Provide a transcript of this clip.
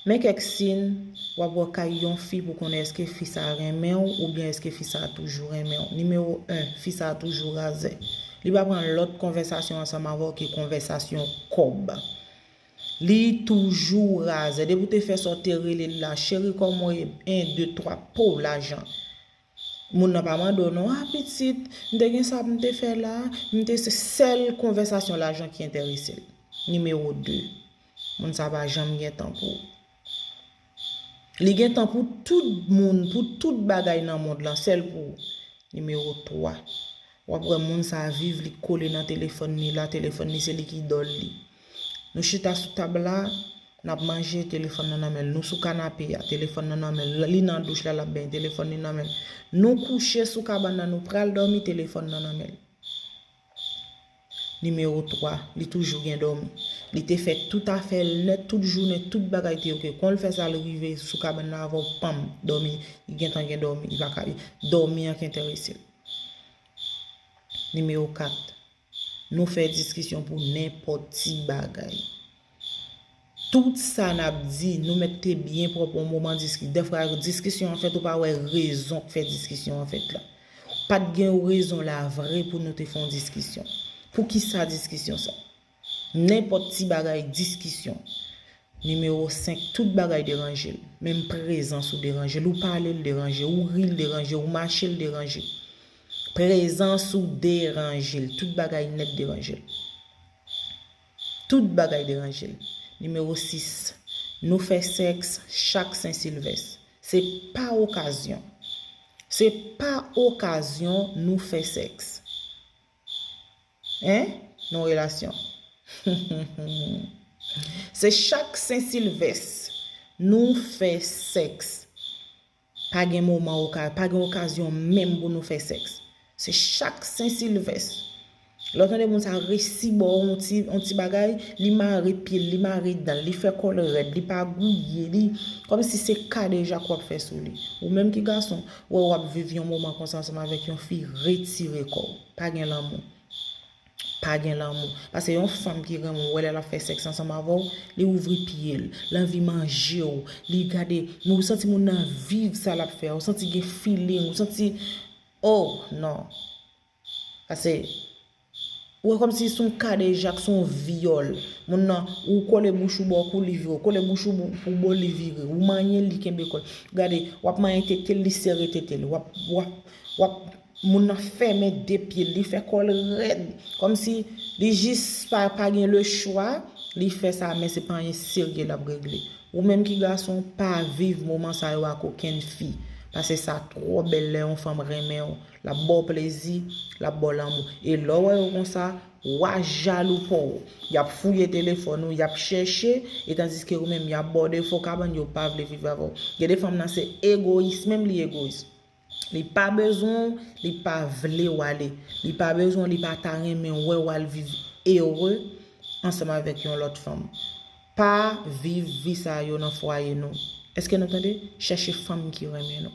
Men kèk sin w ap wè kay yon fi pou konnen èske fi sa a renmen w oubyen èske fi sa a toujou renmen w. Nimewo 1, Fi sa a toujou razè. Li pa pran lòt konvèsasyon ansanm avè w ke konvèsasyon kòb. Li toujou razè. Depi w te fè sa w te rele l la, Cheri kòman w ye? 1, 2, 3, Pouw! Lajan. Moun nan pa mande w non, ah pitit, m te gen sa pou m te fè la, m te se sèl konvèsasyon lajan ki enterese l. Nimewo 2, moun sa pa janm gen tan pou ou. Li gen tan pou tout moun, pou tout bagay nan mond lan, sèl pou ou. Nimewo 3, w ap wè moun sa viv li kole nan telefòn li la, telefòn li se li ki idòl li. Nou chita sou tab la, n ap manje, telefòn nan nan men l. Nou sou kanape a, telefòn nan nan men l. Li nan douch la, l ap benyen, telefòn li nan men l. Nou kouche sou kabann nan, nou pral dòmi, telefòn nan nan men l. Nimewo 3, Li toujou gen dòmi. Li te fè tout afè l nèt, tout jounen, tout bagay te ok. Kon l fè sa, l rive sou kabann nan avè w, panm, dòmi. Li gentan gen dòmi. Li pa ka. Dòmi an ki enterese l. Nimewo 4. Nou fè diskisyon pou nenpòt ti bagay. Tout sa n ap di, nou mèt te byen pwòp yon moman diskisyon. Dèfwa diskisyon an fèt ou pa wè rezon k fè diskisyon an fèt la. Pa t gen yon rezon la vre pou nou te fè yon diskisyon. Pou ki sa diskisyon sa? Nenpòt ti bagay diskisyon. Nimewo 5, tout bagay deranje l. Menm prezans ou deranje l. Ou pale l deranje. Ou ri l deranje. Ou mache l deranje. Prezans ou deranje l. Tout bagay nèt deranje l. Tout bagay deranje l. Nimewo 6, Nou fè sèks chak Sen Silvès. Se pa okazyon. Se pa okazyon nou fè sèks. Hein? Non relasyon. Se chak Sen Silvès nou fè sèks. Pa gen moman oka, pa gen okazyon menm pou nou fè sèks. Se chak sen silvès. Lè w tande moun sa resi ba w yon ti, yon ti bagay, li mare pye l, li mare dan l, li fè kò l rèd, li pa gouye, li, kòm si se kadejak w ap fè sou li. Ou menm ki gason, wè w ap viv yon moman konsa ansanm avèk yon fi, retire kò w. Pa gen lanmou. Pa gen lanmou. Pase yon fanm ki renmen w wè lè lap fè sèks ansanm avè w, li ouvri pye l, l anvi manje w, li gade, men ou santi moun nan viv sa lap fè a, ou santi gen feeling, ou santi oh non. Pase ou wè kòmsi se yon kadejak, se yon vyòl. Moun nan, ou kole bouch ou bò kou li vire, ou kole bouch ou pou bo li vire, ou manyen l li kenbe kò l. Gade, wap manyen tete l li sere tete l, wap, wap, wap. Moun nan fèmen de pye l, li fè kò l rèd. Kòmsi li jis pa gen le chwa, li fè sa men se pa anyen serye l ap regle. Ou menm ki gason, pa viv moman sa yo ak okenn fi. Pase sa twò bèl lè yon fanm renmen w. L ap ba w plezi, l ap ba w lanmou. E lè w wè yo konsa, wa jalou pa w. Y ap fouye telefòn ou, y ap chèche, e tandiske ou menm y ap ba w defo kabann, yo pa vle viv avè w. Gen de fanm nan se egoyis menm li egoyis. Li pa bezwen w, li pa vle w ale. Li pa bezwen w, li pa ta renmen wè w al viv ere ansanm avèk yon lòt fanm. Pa viv vi sa yo nan fwaye nou. Eske nou tande? Chèche fanm ki renmen nou.